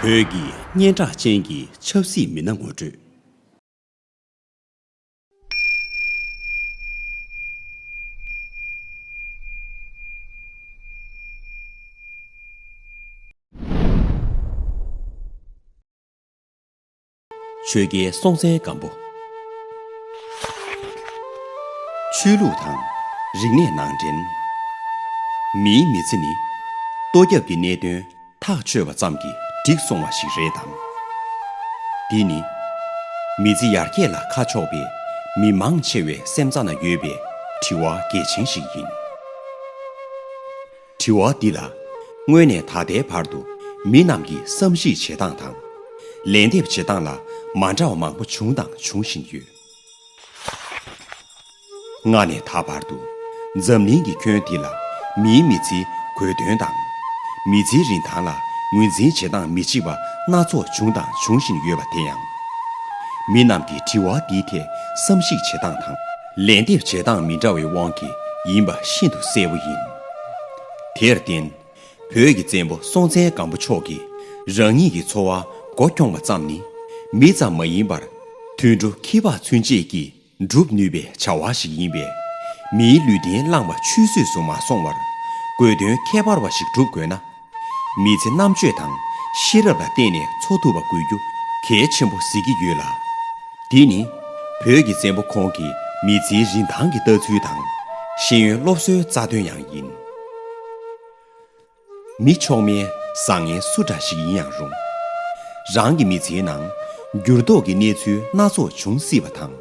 བོད་ཀྱི་སྙན་གྲགས་ཅན་གྱི་ཆབ་སྲིད་མི་སྣ་ངོ་སྤྲོད། ཆོས་རྒྱལ་སྲོང་བཙན་སྒམ་པོ། ཆོས་ལུགས་དང་རིག་གནས་ནང་འདྲེན། མིའི་མི་ཚེ་ནི་ལྟོ་རྒྱབ་ཀྱི་གནད་དོན་ཐག་ཆོད་པ་ཙམ་གྱིས་འགྲིག་སོང་བ་ཞིག་རེད་དམ། འདི་ནི་མི་ཚེ་ཡར་རྒྱས་ལ་ཁ་ཕྱོགས་པའི་མི་མང་ཆེ་བའི་སེམས་རྩ་ན་ཡོད་པའི་དྲི་བ་གལ་ཆེན་ཞིག་ཡིན། དྲི་བ་འདི་ལ་སྔོན་ནས་ད་ལྟའི་བར་དུ་མི་རྣམས་ཀྱི་བསམ་གཞིགས་བྱེད་སྟངས་དང། ལན་འདེབས་བྱེད་སྟངས་ལ་མ་འདྲ་བ་མང་པོ་བྱུང་དང་འབྱུང་བཞིན་ཡོད། སྔ་ནས་ད་བར་དུ་འཛམ་གླིང་གི་ཁྱོན་འདི་ལ་མིའི་མི་ཚེའི་དགོས་དོན་དང། མི་ཚེའི་རིན་ཐང་ལ་ངོས་འཛིན་བྱེད་སྟངས་མི་གཅིག་པ་སྣ་ཚོགས་བྱུང་དང་འབྱུང་བཞིན་ཡོད་པ་དེ་ཡང། མི་རྣམས་ཀྱི་དྲི་བ་འདིའི་ཐད་བསམ་གཞིགས་བྱེད་སྟངས་དང། ལན་འདེབས་བྱེད་སྟངས་མི་འདྲ་བའི་དབང་གིས་ཡིན་པ་ཤིན་ཏུ་གསལ་བོ་ཡིན། དེར་བརྟེན། བོད་ཀྱི་བཙན་པོ་སྲོང་བཙན་སྒམ་པོ་མཆོག་གིས་རང་ཉིད་ཀྱི་འཚོ་བ་མགོ་འཁྱོངས་པ་ཙམ་ནི་མི་ཙམ་མ་ཡིན་པར། དུད་འགྲོ་ཁྱི་ཕག་ཚུན་ཆད་ཀྱིས་བསྒྲུབ་ནུས་པའི་བྱ་བ་ཞིག་ཡིན་པས། མིའི་ལུས་རྟེན་བླངས་པ་ཆུད་ཟོས་སུ་མ་སོང་བར། དགོས་དོན་ཁྱད་པར་བ་ཞིག་བསྒྲུབ་དགོས་ན། མི་ཚེ་རྣམ་དཔྱོད་དང་ཤེས་རབ་ལ་བརྟེན་ནས་འཚོ་ཐུབ་པ་དགོས་རྒྱུ་གལ་ཆེན་པོ་གཟིགས་ཀྱི་ཡོད་ལ། འདི་ནི་བོད་ཀྱི་བཙན་པོ་ཁོང་གི་མི་ཚེའི་རིན་ཐང་གི་ལྟ་ཚུལ་དང་ཤེས་ཡོན་སློབ་གསོའི་རྩ་དོན་ཡང་ཡིན། མི་ཆོག་མེད་བཟང་ངན་སུ་འདྲ་ཞིག་ཡིན་ཡང་རུང། རང་གི་མི་ཚེའི་ནང་འགྱུར་ལྡོག་གི་གནས་ཚུལ་སྣ་ཚོགས་འབྱུང་སྲིད་པ་དང།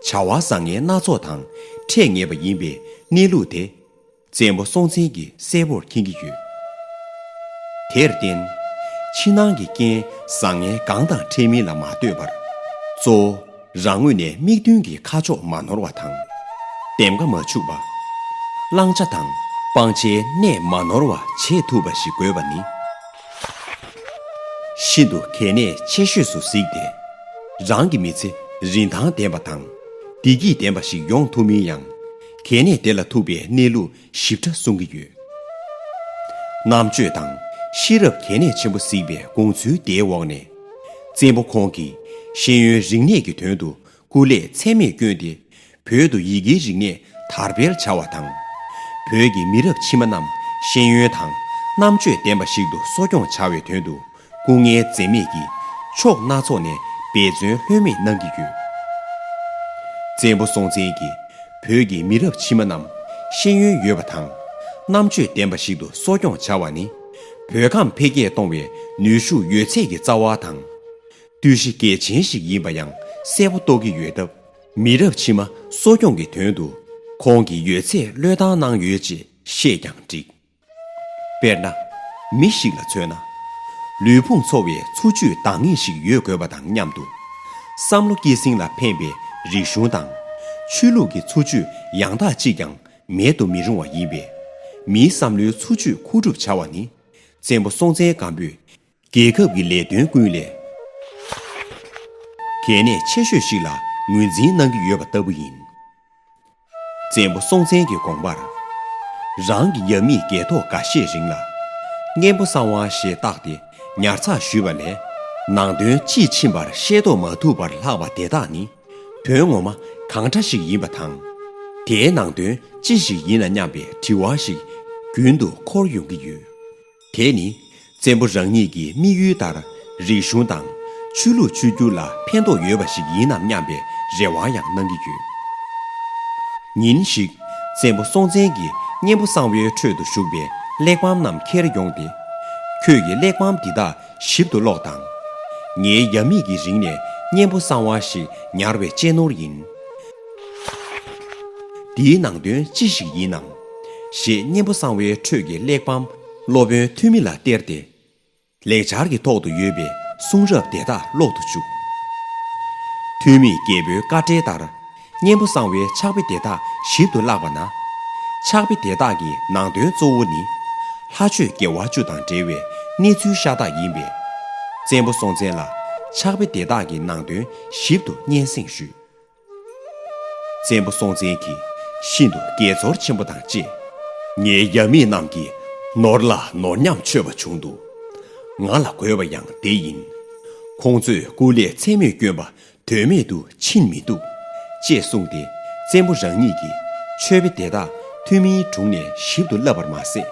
བྱ་བ་བཟང་ངན་སྣ་ཚོགས་དང་འཕྲད་ངེས་པ་ཡིན་པའི་གནས་ལུགས་དེ། བཙན་པོ་སྲོང་བཙན་གྱིས་གསལ་བོར་མཁྱེན་གྱི་ཡོད། དེར་བརྟེན། ཕྱི་ནང་གི་རྐྱེན་བཟང་ངན་གང་དང་འཕྲད་མིན་ལ་མ་ལྟོས་པར། གཙོ་བོ་རང་ངོས་ནས་དམིགས་འདུན་གྱི་ཁ་ཕྱོགས་མ་ནོར་བ་དང། འདེམས་ཀ་མ་འཆུག་པ། བླང་བྱ་དང་སྤང་བྱའི་གནས་མ་ནོར་བ་བྱེད་ཐུབ་པ་ཞིག་དགོས་པ་ནི། ཤིན་ཏུ་གལ་གནད་ཆེ་ཤོས་སུ་གཟིགས་ཏེ། རང་གི་མི་ཚེ་རིན་ཐང་ལྡན་པ་དང་བདེ་སྐྱིད་ལྡན་པ་ཞིག་ཡོང་ཐུབ་མིན་ཡང། དེ་ནས་དེ་ལ་ཐུག་པའི་གནས་ལུགས་ཞིབ་ཕྲ་གསུང་གི་ཡོད། རྣམ་དཔྱོད་དང་ཤེས་རབ་གལ་གནད་ཆེན་པོ་གཟིགས་པའི་དགོངས་ཚུལ་དེའི་འོག་ནས། བཙན་པོ་ཁོང་གིས་ཤེས་ཡོན་རིག་གནས་ཀྱི་དོན་དུ་སྐུ་ལས་ཚད་མེད་བསྐྱོན་ཏེ་བོད་དུ་ཡི་གེའི་རིག་གནས་དར་སྤེལ་བྱ་བ་དང། བོད་ཀྱི་མི་རབས་ཕྱི་མ་རྣམས་ཤེས་ཡོན་དང་རྣམ་དཔྱོད་ལྡན་པ་ཞིག་ཏུ་གསོ་སྐྱོང་བྱ་བའི་དོན་དུ་སྐུ་ངལ་འཛེམས་མེད་ཀྱིས་ཕྱོགས་སྣ་ཚོགས་ནས་འབད་བརྩོན་ལྷོད་མེད་གནང་གི་ཡོད། བཙན་པོ་སྲོང་བཙན་གྱིས་བོད་ཀྱི་མི་རབས་ཕྱི་མ་རྣམས་ཤེས་ཡོན་ཡོད་པ་དང་རྣམ་དཔྱོད་ལྡན་པ་ཞིག་ཏུ་གསོ་སྐྱོང་བྱ་བ་ནི་བོད་ཁམས་འཕེལ་རྒྱས་གཏོང་བའི་ནུས་ཤུགས་ཡོད་ཚད་ཀྱི་རྩ་བ་དང། རྟུལ་ཞི་གལ་ཆེན་ཞིག་ཡིན་པ་ཡང་གསལ་པོ་རྟོགས་ཀྱི་ཡོད་སྟབས། མི་རབས་ཕྱི་མ་གསོ་སྐྱོང་གི་དོན་དུ་ཁོང་གིས་ཡོད་ཚད་བློས་བཏང་གནང་ཡོད་ཅེས་བཤད་ཀྱང་འགྲིགས། དཔེར་ན། མི་ཞིག་ལ་མཚོན་ན། ལུས་ཕུང་འཚོ་བའི་འཚོ་བཅུད་འདང་ངེས་ཤིག་ཡོད་དགོས་པ་དང་མཉམ་དུ། བསམ་བློ་སྐྱེད་སྲིང་ལ་ཕན་པའི་རིག་གཞུང་དང། ཆོས་ལུགས་ཀྱི་འཚོ་བཅུད་ཡང་དག་ཅིག་ཀྱང་མེད་དུ་མི་རུང་བ་ཡིན་པས། མིའི་བསམ་བློའི་འཚོ་བཅུད་མཁོ་སྒྲུབ་བྱ་བ་ནི། བཙན་པོ་སྲོང་བཙན་སྒམ་པོས་རྒྱལ་ཁབ་ཀྱི་ལས་དོན་ཀུན་ལས་གལ་གནད་ཆེ་ཤོས་ཤིག་ལ་ངོས་འཛིན་གནང་གི་ཡོད་པ་ལྟ་བུ་ཡིན། བཙན་པོ་སྲོང་བཙན་གྱི་དགོངས་པར། རང་གི་རྒྱ་མིས་རྒྱལ་ཐོ་འགའ་ཤས་རིང་ལ། གཉན་པོ་གསང་བ་ཞེས་བཏགས་ཏེ་ཉར་ཚགས་ཞུས་པ་ལས། ནང་དོན་དཔྱིས་ཕྱིན་པར་ཤེས་རྟོགས་མ་ཐུབ་པར་ལྷག་པ་དེ་དག་ནི་དོན་ངོ་མ་གང་འདྲ་ཞིག་ཡིན་པ་དང། དེའི་ནང་དོན་ཅི་ཞིག་ཡིན་ན་སྙམ་པའི་དྲི་བ་ཞིག་རྒྱུན་དུ་འཁོར་ཡོང་གི་ཡོད། དེས་ནི་བཙན་པོ་རང་ཉིད་ཀྱི་དམིགས་ཡུལ་ལྟར་རིག་གཞུང་དང། ཆོས་ལུགས་ཆོས་བརྒྱུད་ལ་ཕན་ཐོགས་ཡོད་པ་ཞིག་ཡིན་ནམ་སྙམ་པའི་རེ་བ་ཡང་གནང་གི་ཡོད། ཉིན་ཞིག་བཙན་པོ་སྲོང་བཙན་གྱི་གཉེན་པོ་གསང་བའི་ཁྲོད་དུ་བཞུགས་པའི་གླེགས་བམ་རྣམས་འཁྱེར་ཡོང་སྟེ། ཁྱོད་ཀྱིས་གླེགས་བམ་འདི་དག་ཞིབ་ཏུ་ཀློག་དང། ངའི་ཡབ་མེས་ཀྱི་རིང་ནས་གཉེན་པོ་གསང་བ་ཞིག་ཉར་བའི་གཅེས་ནོར་ཡིན། འདིའི་ནང་དོན་ཅི་ཞིག་ཡིན་ནམ། ཞེས་གཉེན་པོ་གསང་བའི་ཁྲོད་ཀྱི་གླེགས་བམ། སློབ་དཔོན་ཐོན་མི་ལ་སྟེར་ཏེ། ལེགས་སྦྱར་གྱི་ཐོག་ཏུ་ཡོད་པའི་གསུང་རབ་དེ་དག་ཀློག་ཏུ་བཅུག། ཐོན་མིས་རྒྱལ་པོའི་བཀའ་འབྲེལ་ལྟར། གཉེན་པོ་གསང་བའི་ཕྱག་དཔེ་དེ་དག་ཞིབ་ཏུ་བཀླགས་པ་ན། ཕྱག་དཔེ་དེ་དག་གི་ནང་དོན་གཙོ་བོ་ནི། ལྷ་ཆོས་དགེ་བ་བཅུ་དང་འབྲེལ་བའི་གནས་ཚུལ་ཤ་སྟག་ཡིན་པས། བཙན་པོ་སྲོང་བཙན་ལ་ཕྱག་དཔེ་དེ་དག་གི་ནང་དོན་ཞིབ་ཏུ་སྙན་སེང་ཞུས། བཙན་པོ་སྲོང་བཙན་གྱིས་ཤིན་ཏུ་དགྱེས་ཚོར་ཆེན་པོ་དང་བཅས། ངའི་རྒྱ་མི་རྣམས་ཀྱིས་ནོར་ལ་ནོར་ཉམས་ཆོད་པ་བྱུང་འདུག་ང་ལ་དགོས་པ་ཡང་དེ་ཡིན། ཁོང་ཚོས་སྐུ་ལས་མཚན་མོས་སྐྱོན་པ་དོན་མེད་དུ་ཕྱིན་མི་འདུག་ཅེས་གསུངས་ཏེ་བཙན་པོ་རང་ཉིད་ཀྱིས་མཆོད་དཔེ་དེ་དག་ཐུན་མིན་དྲུང་ནས་ཞིབ་ཏུ་བསླབས་པར་མ་ཟད།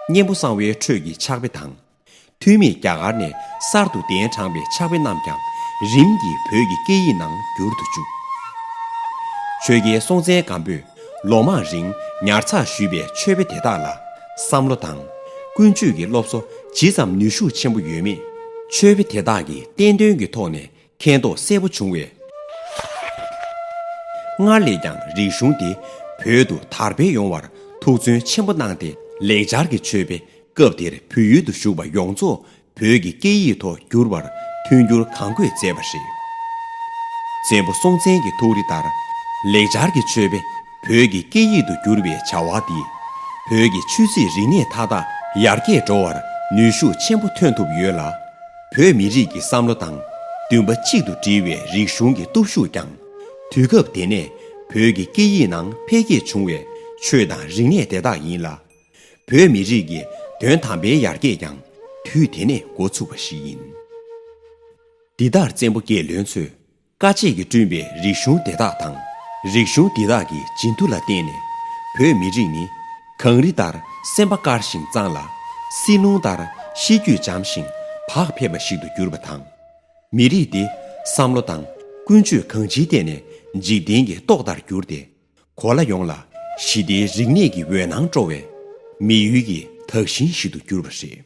གཉན་པོ་གསང་བའི་ཁྲོད་ཀྱི་ཕྱག་དཔེ་དང། ཐུ་མེད་རྒྱ་གར་ནས་གསར་དུ་གདན་དྲངས་པའི་ཕྱག་དཔེ་རྣམས་ཀྱང་རིམ་གྱིས་བོད་ཀྱི་སྐད་ཡིག་ནང་བསྒྱུར་དུ་བཅུག། ཆོས་རྒྱལ་སྲོང་བཙན་སྒམ་པོས་ལོ་མང་རིང་ཉར་ཚགས་ཞུས་པའི་ཆོས་དཔེ་དེ་དག་ལ་བསམ་བློ་དང། ཀུན་སྤྱོད་ཀྱི་སློབ་གསོ་ཇི་ཙམ་ནུས་ཤུགས་ཆེན་པོ་ཡོད་མེད། ཆོས་དཔེ་དེ་དག་གིས་བསྟན་དོན་གྱི་ཐོག་ནས་མཁྱེན་རྟོགས་གསལ་པོ་བྱུང་བས། སྔར་ལས་ཀྱང་རིག་གཞུང་འདི་བོད་དུ་དར་འཕེལ་ཡོང་བར་ཐུགས་བརྩོན་ཆེན་པོ་གནང་སྟེ་ལེགས་སྦྱར་གྱི་ཆོས་དཔེ་སྐབས་དེར་བོད་ཡུལ་དུ་བཞུགས་པ་ཡོངས་རྫོགས་བོད་ཀྱི་སྐད་ཡིག་ཐོག་བསྒྱུར་བར་མཐུན་འགྱུར་གང་དགོས་མཛད་པ་རེད། བཙན་པོ་སྲོང་བཙན་གྱི་ཐུགས་རེ་ལྟར་ལེགས་སྦྱར་གྱི་ཆོས་དཔེ་བོད་ཀྱི་སྐད་ཡིག་ཏུ་བསྒྱུར་བའི་བྱ་བ་འདིས་བོད་ཀྱི་ཆོས་སྲིད་རིག་གནས་མཐའ་དག་ཡར་རྒྱས་འགྲོ་བར་ནུས་ཤུགས་ཆེན་པོ་ཐོན་ཐུབ་ཡོད་ལ། བོད་མི་རིགས་ཀྱི་བསམ་བློ་དང་འདུན་པ་གཅིག་ཏུ་སྒྲིལ་བའི་རིག་གཞུང་གི་སྟོབས་ཤུགས་ཀྱང་དུས་སྐབས་དེ་ནས་བོད་ཀྱི་སྐད་ཡིག་ནང་འཕེལ་རྒྱས་བྱུང་བའི་ཆོས་དང་རིག་གནས་དེ་དག་ཡིན་ལ། བོད་མི་རིགས་ཀྱི་དོན་དམ་པའི་ཡར་རྒྱས་ཀྱང་དུས་དེ་ནས་འགོ་ཚུགས་པ་ཞིག་ཡིན། འདི་ལྟར་བཙན་པོ་རྒྱལ་བློན་ཚོས། དཀའ་སྤྱད་ཀྱིས་བསྐྲུན་པའི་རིག་གཞུང་དེ་དག་དང། རིག་གཞུང་འདི་དག་གི་བྱིན་མཐུ་ལ་བརྟེན་ནས། བོད་མི་རིགས་ནི། གངས་རི་ལྟར་སེམས་པ་དཀར་ཞིང་གཙང་ལ། བསིལ་རླུང་ལྟར་གཤིས་རྒྱུད་འཇམ་ཞིང་བག་ཕེབས་པ་ཞིག་ཏུ་གྱུར་པ་དང། མི་རིགས་འདི་བསམ་བློ་དང་ཀུན་སྤྱོད་གང་ཅིའི་ཐད་ནས་འཇིག་རྟེན་གྱི་ཏོག་ལྟར་གྱུར་ཏེ། གོ་ལ་ཡོངས་ལ་ཞི་བདེའི་རིག་གནས་ཀྱི་འོད་སྣང་སྤྲོ་བའི། མི་ཡུལ་གྱི་དག་ཞིང་ཞིག་ཏུ་གྱུར་པ་རེད།